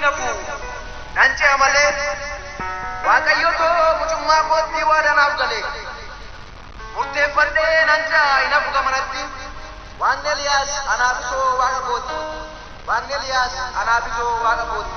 na bu'u, nan ce'a malee. Waaqayyo koo mucummaa kootti waadaa naaf gale. Murteeffadhee nan ce'a, hin hafu gamanatti. Waaqni Eliyaas Anaabisoo Waaqa koo ti. Waaqni Eliyaas Anaabisoo Waaqa koo ti.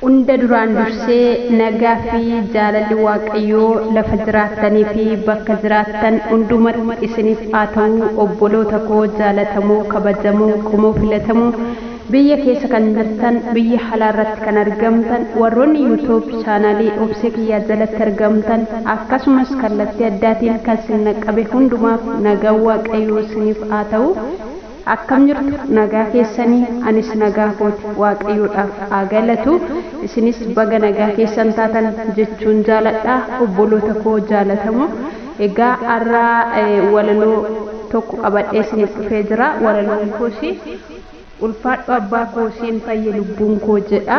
Hunda duraan dursee nagaa fi jaalalli Waaqayyoo lafa jiraattanii fi bakka jiraattan hundumatti isiniif haa ta'uu obboloota koo jaalatamoo kabajamoo qomoo filatamoo biyya keessa kan jirtan biyya halaa irratti kan argamtan warroonni youtube chaanaalii obsee kiyyaa jalatti argamtan akkasumas kallattii addaatiin kan sin naqqabe hundumaaf nagaan Waaqayyoo isiniif haa ta'uu Akkam jirtu nagaa keessanii anis nagaa kooti waaqayyoodhaaf haa galatu isinis baga nagaa keessan taatan jechuun jaaladha obboloota koo jaalatamoo egaa arra walaloo tokko qabadhee isiniif dhufee jira walaloon koos ulfaadhu abbaa koo siin fayye lubbuun koo jedha.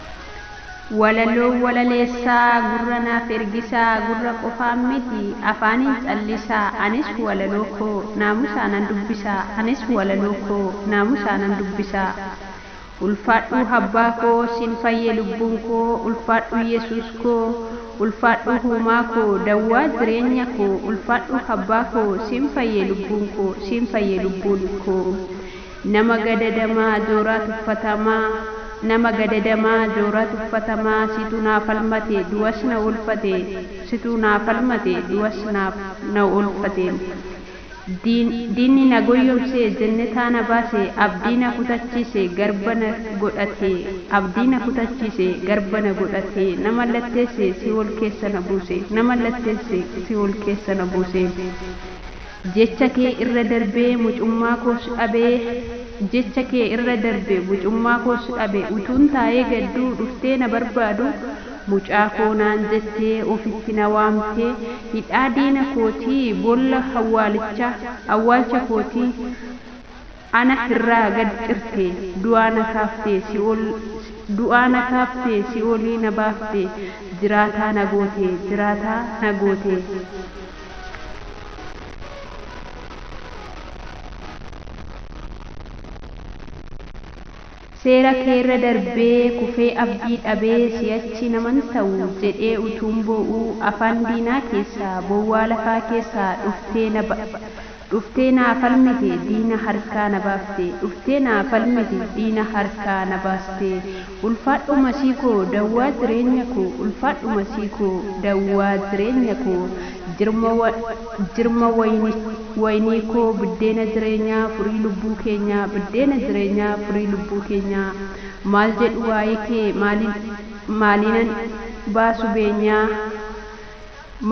Walaloo walaleessaa gurra naaf ergisaa gurra qofaan miti afaaniin callisaa anis walaloo koo naamusaanan dubbisaa anis walaloo koo naamusaanan dubbisaa Ulfaadhuu habbaa koo sin fayye lubbuun koo ulfaadhuu yesuus koo ulfaadhuu huumaa koo dawwaa jireenya koo ulfaadhuu habbaa koo sin fayye lubbuun koo sin fayye lubbuun koo Nama gadadamaa jooraa tuffatamaa Nama gadadamaa jooraa tuffatamaa Situ naa falmate du'as na oolfate Situ naa falmate du'as na na oolfate Diin diinni na goyyomse jennetaa na baase Abdii na kutachiise garba na godhate Abdii na kutachiise garba na godhate Na mallatteesse si'ool keessa na buuse Na mallatteesse si'ool keessa na buuse. Jecha kee irra darbee mucummaa koos dhabe Jecha kee irra darbe mucummaa koos dhabe Utuun taa'ee gadduu dhuftee na barbaadu Mucaa koo naan jettee ofitti na waamte Hidhaa diina kootii boolla awwaalichaa awwaalcha kootii Ana irraa gad cirte, du'aa na kaafte, si'ool Du'aa na kaafte, si'oolii na baafte, jiraataa na goote, jiraataa na goote. Seera keerra darbee kufee abdii dhabee si'achi naman ta'u jedhee utuun boo'uu afaan diinaa keessaa bowwaa lafaa keessaa dhuftee na ba dhuftee naa falmite diina harkaa na baafte dhuftee naa falmite diina harkaa na baaste ulfaadhu masii koo dawwaa jireenya koo ulfaadhu masii koo dawwaa jireenya koo jirma jirma wayini wayinii koo biddeena jireenyaa furii lubbuu keenyaa biddeena jireenyaa furii lubbuu keenyaa maal jedhu waa'ee kee maaliin maaliinan baasu beenyaa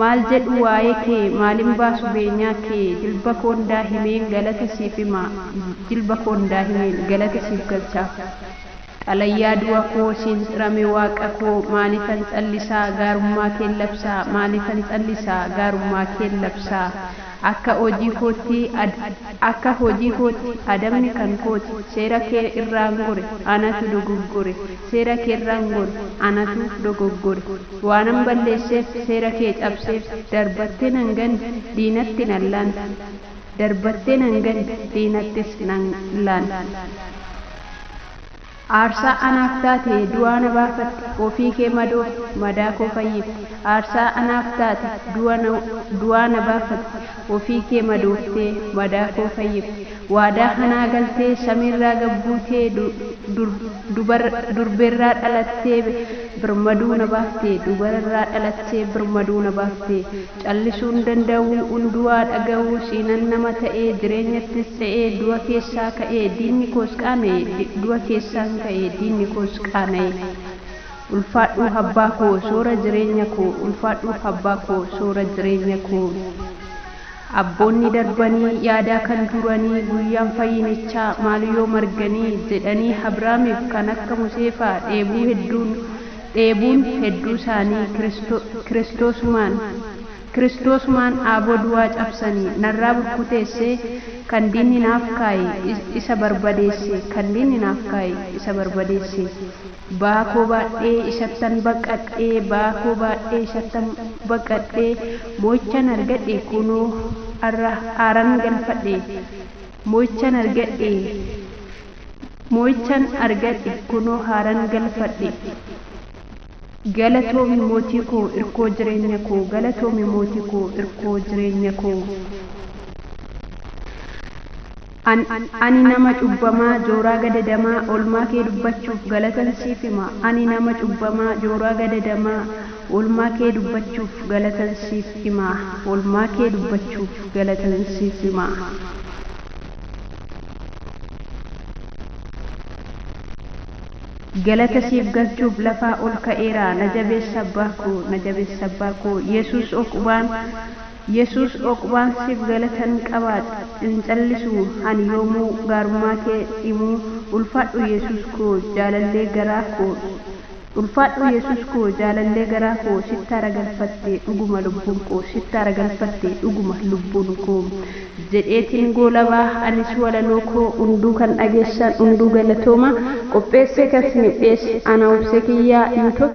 maal jedhu waa'ee kee maalin baasu beenyaa kee jilba koon daahimeen galata siif hima jilba koon daahimeen galata siif galcha. Xalayaa du'a koo siin xrame Waaqa koo maalifan callisaa Gaarummaa keen labsaa Maalifan callisaa Gaarummaa keen labsaa Akka hojii kootti ad Akka hojii kootti Adabni kan kooti Seera kee irraan gore Anatu dogoggore Seera keerraan gore Anatu dogoggore Waanan balleesseef Seera kee cabseef Darbattee nan ganne Diinatti nan laante Darbattee nan ganne Diinattis nan laante. Aarsaa anaaf taate du'aa na baafatte ofii kee madoofte madaa koo fayyifte Aarsaa anaaf taate du'aa na baafatte ofii kee madooftee madaa koo fayyifte Waadaa hanaa galtee samiirraa gad buutee Durberraa dhalattee birmaduu na baaftee Dubararraa dhalattee birmaduu na baaftee Callisuun danda'uu, unduaa dhaga'uu, siinan nama ta'ee, jireenyattis ta'ee, du'a keessaa ka'ee, diinni koos qaana'e, du'a keessaan ka'ee, diinni koos qaana'e. Ulfaadhuu habbaa koo, soora jireenya koo, ulfaadhuu habbaa koo, soora jireenya koo. Abboonni darbanii, yaadaa kan turanii, guyyaan fayyinichaa, maal yoo marganii, jedhanii Abraamiif kan akka Museefaa, dheebuu hedduun, dheebuun hedduu isaanii Kiristoosumaan, Kiristoosumaan aaboo duwaa cabsani, narraa burkuteesse, kan diinni naaf kaa'e, isa barbadeesse, kan diinni naaf kaa'e, isa barbadeesse, ba'aa koo baadhee isattan baqadhe, ba'aa koo baadhee isattan baqadhe, mo'ichan argadhe, kunoo, arra aaran galfadhe, mo'ichan argadhe. Moo'ichan argadhe kunoo haaran galfadhe Galatoomi mootii koo irkoo jireenya koo Galatoomi mootii koo irkoo jireenya koo An Ani nama cubbamaa jooraa gadadamaa Oolmaa kee dubbachuuf galatan siif hima Ani nama cubbamaa jooraa gadadamaa Oolmaa kee dubbachuuf galatan siif hima Oolmaa kee dubbachuuf galatan siif hima. Galata siif galchuuf lafaa ol ka'eera na jabeessa abbaa koo na jabeessa abbaa koo yesuus oqubaan yesuus oqubaan siif galatan qaba hin callisu ani yoomuu gaarummaa kee himuu ulfaadhu yesuus koo jaalallee garaa koo Ulfaadhuu yesuus koo jaalallee garaa koo sitti aragalfatte dhuguma lubbuun koo sitti aragalfatte dhuguma lubbuun koo jedheetiin goolabaa anis walaloo koo unduu kan dhageessan unduu galatooma qopheessee kan sinif dhiyeesse ana obsee kiyyaa youtube